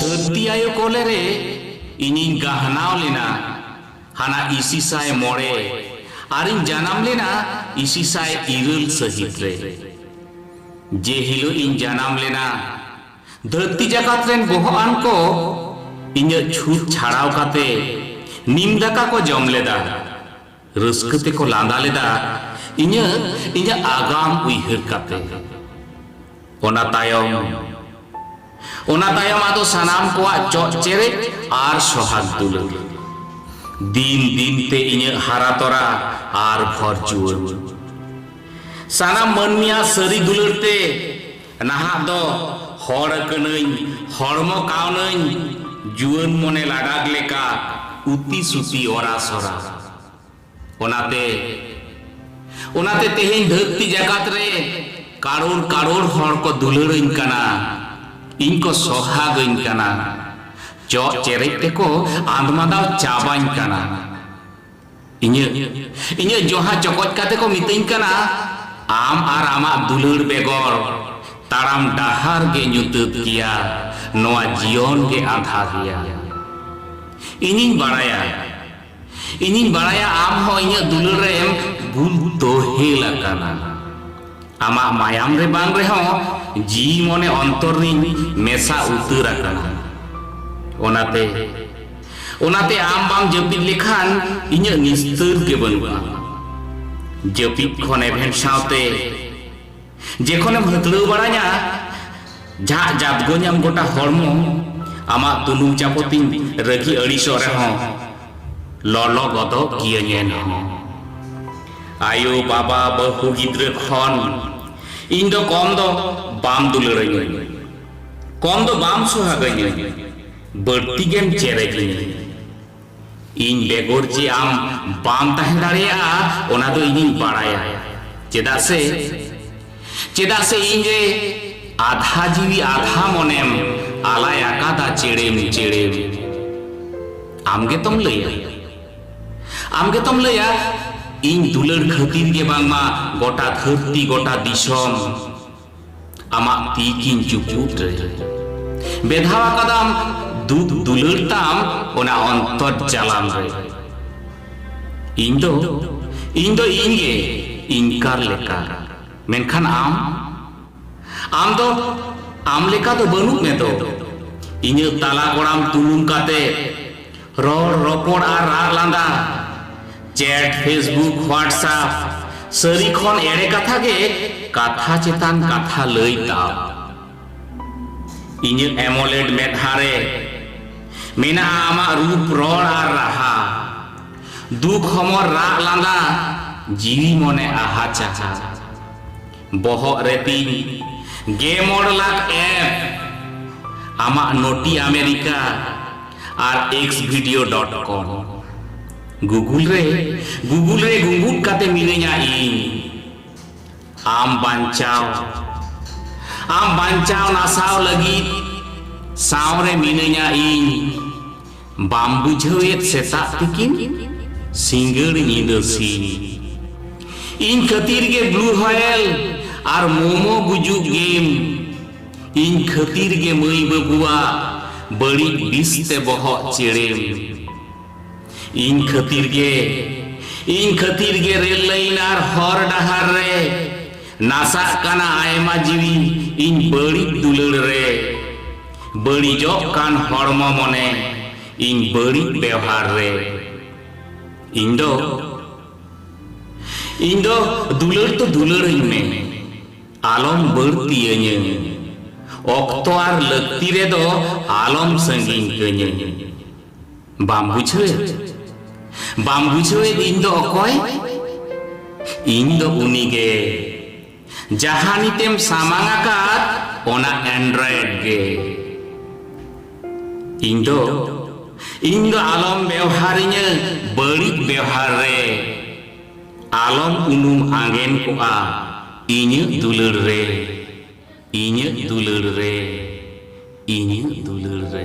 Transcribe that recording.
ᱫᱷᱟᱹᱨᱛᱤ ᱟᱭᱳ ᱠᱚᱞᱮ ᱨᱮ ᱤᱧᱤᱧ ᱜᱟᱦᱱᱟᱣ ᱞᱮᱱᱟ ᱦᱟᱱᱟ ᱤᱥᱤᱥᱟᱭ ᱢᱚᱬᱮ ᱟᱨᱤᱧ ᱡᱟᱱᱟᱢ ᱞᱮᱱᱟ ᱤᱥᱤᱥᱟᱭ ᱤᱨᱟᱹᱞ ᱥᱟᱹᱦᱤᱛ ᱨᱮ᱾ ᱡᱮ ᱦᱤᱞᱚᱜ ᱤᱧ ᱡᱟᱱᱟᱢ ᱞᱮᱱᱟ ᱫᱷᱟᱹᱨᱛᱤ ᱡᱟᱠᱟᱛ ᱨᱮᱱ ᱵᱚᱦᱚᱜ ᱟᱱ ᱠᱚ ᱤᱧᱟᱹᱜ ᱪᱷᱩᱛ ᱪᱷᱟᱲᱟᱣ ᱠᱟᱛᱮ ᱱᱤᱢ ᱫᱟᱠᱟ ᱠᱚ ᱡᱚᱢ ᱞᱮᱫᱟ᱾ ᱨᱟᱹᱥᱠᱟᱹ ᱛᱮᱠᱚ ᱞᱟᱸᱫᱟ ᱞᱮᱫᱟ ᱤᱧᱟᱹᱜ ᱤᱧᱟᱹᱜ ᱟᱜᱟᱢ ᱩᱭᱦᱟᱹᱨ ᱠᱟᱛᱮ᱾ ᱚᱱᱟ ᱛᱟᱭᱚᱢ ᱚᱱᱟ ᱛᱟᱭᱚᱢ ᱟᱫᱚ ᱥᱟᱱᱟᱢ ᱠᱚᱣᱟᱜ ᱪᱚᱜ ᱪᱮᱨᱮᱡ ᱟᱨ ᱥᱚᱦᱟᱜᱽ ᱫᱩᱞᱟᱹᱲ᱾ ᱫᱤᱱ ᱫᱤᱱ ᱛᱮ ᱤᱧᱟᱹᱜ ᱦᱟᱨᱟ ᱛᱚᱨᱟ ᱟᱨ ᱵᱷᱚᱨ ᱡᱩᱣᱟᱹᱱ᱾ ᱥᱟᱱᱟᱢ ᱢᱟᱹᱱᱢᱤᱭᱟᱜ ᱥᱟᱹᱨᱤ ᱫᱩᱞᱟᱹᱲ ᱛᱮ᱾ ᱱᱟᱦᱟᱜ ᱫᱚ ᱦᱚᱲ ᱠᱟᱹᱱᱟᱹᱧ ᱦᱚᱲᱢᱚ ᱠᱟᱣᱱᱟᱹᱧ ᱡᱩᱣᱟᱹᱱ ᱢᱚᱱᱮ ᱞᱟᱰᱟᱜ ᱞᱮᱠᱟ ᱩᱛᱤ ᱥᱩᱛᱤ ᱚᱨᱟ ᱥᱚᱨᱟ ᱚᱱᱟᱛᱮ ᱚᱱᱟᱛᱮ ᱛᱮᱦᱮᱧ ᱫᱷᱟᱹᱨᱛᱤ ᱡᱟᱠᱟᱛ ᱨᱮ ᱠᱟᱲᱳᱲ ᱠᱟᱲᱳᱲ ᱦᱚᱲ ᱠᱚ ᱫᱩᱞᱟᱹᱲᱟᱹᱧ ᱠᱟᱱᱟ ᱤᱧ ᱠᱚ ᱥᱚᱦᱟᱜᱟᱹᱧ ᱠᱟᱱᱟ ᱪᱚᱜ ᱪᱮᱨᱮᱡ ᱛᱮᱠᱚ ᱟᱸᱫᱽᱢᱟᱫᱟᱣ ᱪᱟᱵᱟᱧ ᱠᱟᱱᱟ ᱤᱧᱟᱹᱜ ᱤᱧᱟᱹᱜ ᱡᱚᱦᱟ ᱪᱚᱠᱚᱡ ᱠᱟᱛᱮ ᱠᱚ ᱢᱤᱛᱟᱹᱧ ᱠᱟᱱᱟ ᱟᱢ ᱟᱨ ᱟᱢᱟᱜ ᱫᱩᱞᱟᱹᱲ ᱵᱮᱜᱚᱨ ᱛᱟᱲᱟᱢ ᱰᱟᱦᱟᱨ ᱜᱮ ᱧᱩᱛᱟᱹᱛ ᱜᱮᱭᱟ ᱱᱚᱣᱟ ᱡᱤᱭᱚᱱ ᱜᱮ ᱟᱸᱫᱷᱟ ᱜᱮᱭᱟ ᱤᱧᱤᱧ ᱵᱟᱲᱟᱭᱟ ᱤᱧᱤᱧ ᱵᱟᱲᱟᱭᱟ ᱟᱢ ᱦᱚᱸ ᱤᱧᱟᱹᱜ ᱫᱩᱞᱟᱹᱲ ᱨᱮᱢ ᱵᱩᱞ ᱛᱚᱦᱮᱞ ᱟᱠᱟᱱᱟ ᱟᱢᱟᱜ ᱢᱟᱭᱟᱢ ᱨᱮ ᱵᱟᱝ ᱨᱮᱦᱚᱸ ᱡᱤᱣᱤ ᱢᱚᱱᱮ ᱚᱱᱛᱚᱨ ᱨᱤᱧ ᱢᱮᱥᱟ ᱩᱛᱟᱹᱨ ᱟᱠᱟᱱᱟ ᱚᱱᱟᱛᱮ ᱚᱱᱟᱛᱮ ᱟᱢ ᱵᱟᱢ ᱡᱟᱹᱯᱤᱫ ᱞᱮᱠᱷᱟᱱ ᱤᱧᱟᱹᱜ ᱱᱤᱥᱛᱟᱹᱨ ᱜᱮ ᱵᱟᱹᱱᱩᱜᱼᱟ ᱡᱟᱹᱯᱤᱫ ᱠᱷᱚᱱ ᱮᱵᱷᱮᱱ ᱥᱟᱶᱛᱮ ᱡᱮᱠᱷᱚᱱᱮᱢ ᱦᱟᱹᱛᱲᱟᱹᱣ ᱵᱟᱲᱟᱧᱟ ᱡᱷᱟᱜ ᱡᱟᱫᱜᱚᱧᱟᱢ ᱜᱚᱴᱟ ᱦᱚᱲᱢᱚ ᱟᱢᱟᱜ ᱛᱩᱱᱩᱢ ᱪᱟᱯᱚᱛᱤᱧ ᱨᱟᱹᱜᱤ ᱟᱹᱲᱤᱥᱚᱜ ᱨᱮᱦᱚᱸ ᱞᱚᱞᱚ ᱜᱚᱫᱚᱜ ᱜᱤᱭᱟᱹᱧ ᱮᱱᱦᱚᱸ ᱟᱭᱳ ᱵᱟᱵᱟ ᱵᱟᱹᱦᱩ ᱜᱤᱫᱽᱨᱟᱹ ᱠᱷᱚᱱ ᱤᱧ ᱫᱚ ᱠᱚᱢ ᱫᱚ ᱵᱟᱢ ᱫᱩᱞᱟᱹᱲᱟᱹᱧᱟᱹ ᱠᱚᱢ ᱫᱚ ᱵᱟᱢ ᱥᱚᱦᱟᱜᱟᱹᱧᱟᱹ ᱵᱟᱹᱲᱛᱤ ᱜᱮᱢ ᱪᱮᱨᱮᱡᱟᱹᱧᱟᱹ ᱤᱧ ᱵᱮᱜᱚᱨ ᱡᱮ ᱟᱢ ᱵᱟᱢ ᱛᱟᱦᱮᱸ ᱫᱟᱲᱮᱭᱟᱜᱼᱟ ᱚᱱᱟ ᱫᱚ ᱤᱧᱤᱧ ᱵᱟᱲᱟᱭᱟ ᱪᱮᱫᱟᱜ ᱥᱮ ᱪᱮᱫᱟᱜ ᱥᱮ ᱤᱧ ᱨᱮ ᱟᱫᱷᱟ ᱡᱤᱣᱤ ᱟᱫᱷᱟ ᱢᱚᱱᱮᱢ ᱟᱞᱟᱭ ᱟᱠᱟᱫᱟ ᱪᱮᱲᱮᱢ ᱪᱮᱲᱮᱢ ᱟᱢ ᱜᱮᱛᱚᱢ ᱞᱟᱹᱭᱟ ᱟᱢ ᱜᱮᱛᱚᱢ ᱞᱟᱹᱭᱟ ᱤᱧ ᱫᱩᱞᱟᱹᱲ ᱠᱷᱟᱹᱛᱤᱨ ᱜᱮ ᱵᱟᱝᱢᱟ ᱜᱚᱴᱟ ᱫᱷᱟᱹᱨᱛᱤ ᱜᱚᱴᱟ ᱫᱤᱥᱚᱢ ᱟᱢᱟᱜ ᱛᱤ ᱠᱤᱧ ᱪᱩᱯᱩᱫ ᱨᱮ ᱵᱮᱫᱷᱟᱣ ᱟᱠᱟᱫᱟᱢ ᱫᱩᱠ ᱫᱩᱞᱟᱹᱲ ᱛᱟᱢ ᱚᱱᱟ ᱚᱱᱛᱚᱨ ᱡᱟᱞᱟᱢ ᱨᱮ ᱤᱧ ᱫᱚ ᱤᱧ ᱫᱚ ᱤᱧ ᱜᱮ ᱤᱧᱠᱟᱨ ᱞᱮᱠᱟ ᱢᱮᱱᱠᱷᱟᱱ ᱟᱢ ᱟᱢ ᱫᱚ ᱟᱢ ᱞᱮᱠᱟ ᱫᱚ ᱵᱟᱹᱱᱩᱜ ᱢᱮ ᱫᱚ ᱤᱧᱟᱹᱜ ᱛᱟᱞᱟ ᱜᱚᱲᱟᱢ ᱛᱩᱞᱩᱢ ᱠᱟᱛᱮ ᱨᱚᱲ ᱨᱚᱯᱚᱲ ᱟᱨ ᱨᱟᱜ ᱞᱟᱸᱫᱟ ᱪᱮᱴ ᱯᱷᱮᱥᱵᱩᱠ ᱦᱳᱣᱟᱴᱥᱟᱯ ᱥᱟᱹᱨᱤ ᱠᱷᱚᱱ ᱮᱲᱮ ᱠᱟᱛᱷᱟ ᱜᱮ ᱠᱟᱛᱷᱟ ᱪᱮᱛᱟᱱ ᱠᱟᱛᱷᱟ ᱞᱟᱹᱭ ᱛᱟᱢ ᱤᱧᱟᱹᱜ ᱮᱢᱚᱞᱮᱰ ᱢᱮᱫᱦᱟ ᱨᱮ ᱢᱮᱱᱟᱜᱼᱟ ᱟᱢᱟᱜ ᱨᱩᱯ ᱨᱚᱲ ᱟᱨ ᱨᱟᱦᱟ ᱫᱩᱠ ᱦᱚᱢᱚᱨ ᱨᱟᱜ ᱞᱟᱸᱫᱟ ᱡᱤᱣᱤ ᱢᱚᱱᱮ ᱟᱦᱟ ᱪᱟᱦᱟ ᱵᱚᱦᱚᱜ ᱨᱮ ᱛᱤᱧ ᱜᱮ ᱢᱚᱬ ᱞᱟᱠᱷ ᱮᱯ ᱟᱢᱟᱜ ᱱᱚᱴᱤ ᱟᱢᱮᱨᱤᱠᱟ ᱟᱨ X video dot com Google ᱨᱮ ᱜᱩᱜᱩᱞ ᱨᱮ ᱜᱩᱸᱜᱩᱫ ᱠᱟᱛᱮ ᱢᱤᱱᱟᱹᱧᱟ ᱤᱧ ᱟᱢ ᱵᱟᱧᱪᱟᱣ ᱟᱢ ᱵᱟᱧᱪᱟᱣ ᱱᱟᱥᱟᱣ ᱞᱟᱹᱜᱤᱫ ᱥᱟᱶ ᱨᱮ ᱢᱤᱱᱟᱹᱧᱟ ᱤᱧ ᱵᱟᱢ ᱵᱩᱡᱷᱟᱹᱣᱮᱫ ᱥᱮᱛᱟᱜ ᱛᱤᱠᱤᱱ ᱥᱤᱸᱜᱟᱹᱲ ᱧᱤᱫᱟᱹ ᱥᱤᱧ ᱤᱧ ᱠᱷᱟᱹᱛᱤᱨ ᱜᱮ ᱵᱞᱩ ᱦᱚᱭᱮᱞ ᱟᱨ ᱢᱳᱢᱳ ᱜᱩᱡᱩᱜ ᱜᱮᱢ ᱤᱧ ᱠᱷᱟᱹᱛᱤᱨ ᱜᱮ ᱢᱟᱹᱭ ᱵᱟᱹᱵᱩᱣᱟᱜ ᱵᱟᱹᱲᱤᱡ ᱵᱤᱥ ᱛᱮ ᱵᱚᱦᱚᱜ ᱪᱮᱲᱮᱢ ᱤᱧ ᱠᱷᱟᱹᱛᱤᱨ ᱜᱮ ᱤᱧ ᱠᱷᱟᱹᱛᱤᱨ ᱜᱮ ᱨᱮᱞ ᱞᱟᱭᱤᱱ ᱟᱨ ᱦᱚᱨ ᱰᱟᱦᱟᱨ ᱨᱮ ᱱᱟᱥᱟᱜ ᱠᱟᱱᱟ ᱟᱭᱢᱟ ᱡᱤᱣᱤ ᱤᱧ ᱵᱟᱹᱲᱤᱡ ᱫᱩᱞᱟᱹᱲ ᱨᱮ ᱵᱟᱹᱲᱤᱡᱚᱜ ᱠᱟᱱ ᱦᱚᱲᱢᱚ ᱢᱚᱱᱮ ᱤᱧ ᱵᱟᱹᱲᱤᱡ ᱵᱮᱣᱦᱟᱨ ᱨᱮ ᱤᱧ ᱫᱚ ᱤᱧ ᱫᱚ ᱫᱩᱞᱟᱹᱲ ᱛᱚ ᱫᱩᱞᱟᱹᱲᱟᱹᱧ ᱢᱮ ᱟᱞᱚᱢ ᱵᱟᱹᱲᱛᱤᱭᱟᱹᱧᱟᱹ ᱚᱠᱛᱚ ᱟᱨ ᱞᱟᱹᱠᱛᱤ ᱨᱮᱫᱚ ᱟᱞᱚᱢ ᱥᱟᱺᱜᱤᱧ ᱠᱟᱹᱧᱟᱹ ᱵᱟᱢ ᱵᱩᱡᱷᱟᱹᱣᱮᱫ ᱵᱟᱢ ᱵᱩᱡᱷᱟᱹᱣᱮᱫ ᱤᱧ ᱫᱚ ᱚᱠᱚᱭ ᱤᱧ ᱫᱚ ᱩᱱᱤ ᱜᱮ ᱡᱟᱦᱟᱸ ᱱᱤᱛᱮᱢ ᱥᱟᱢᱟᱝ ᱟᱠᱟᱫ ᱚᱱᱟ ᱮᱱᱰᱨᱚᱭᱮᱰ ᱜᱮ ᱤᱧ ᱫᱚ ᱤᱧ ᱫᱚ ᱟᱞᱚᱢ ᱵᱮᱣᱦᱟᱨᱤᱧᱟᱹ ᱵᱟᱹᱲᱤᱡ ᱵᱮᱣᱦᱟᱨ ᱨᱮ ᱟᱞᱚᱢ ᱩᱱᱩᱢ ᱟᱸᱜᱮᱱ ᱠᱚᱜᱼᱟ ᱤᱧᱟᱹᱜ ᱫᱩᱞᱟᱹᱲ ᱨᱮ ᱤᱧᱟᱹᱜ ᱫᱩᱞᱟᱹᱲ ᱨᱮ ᱤᱧᱟᱹᱜ ᱫᱩᱞᱟᱹᱲ ᱨᱮ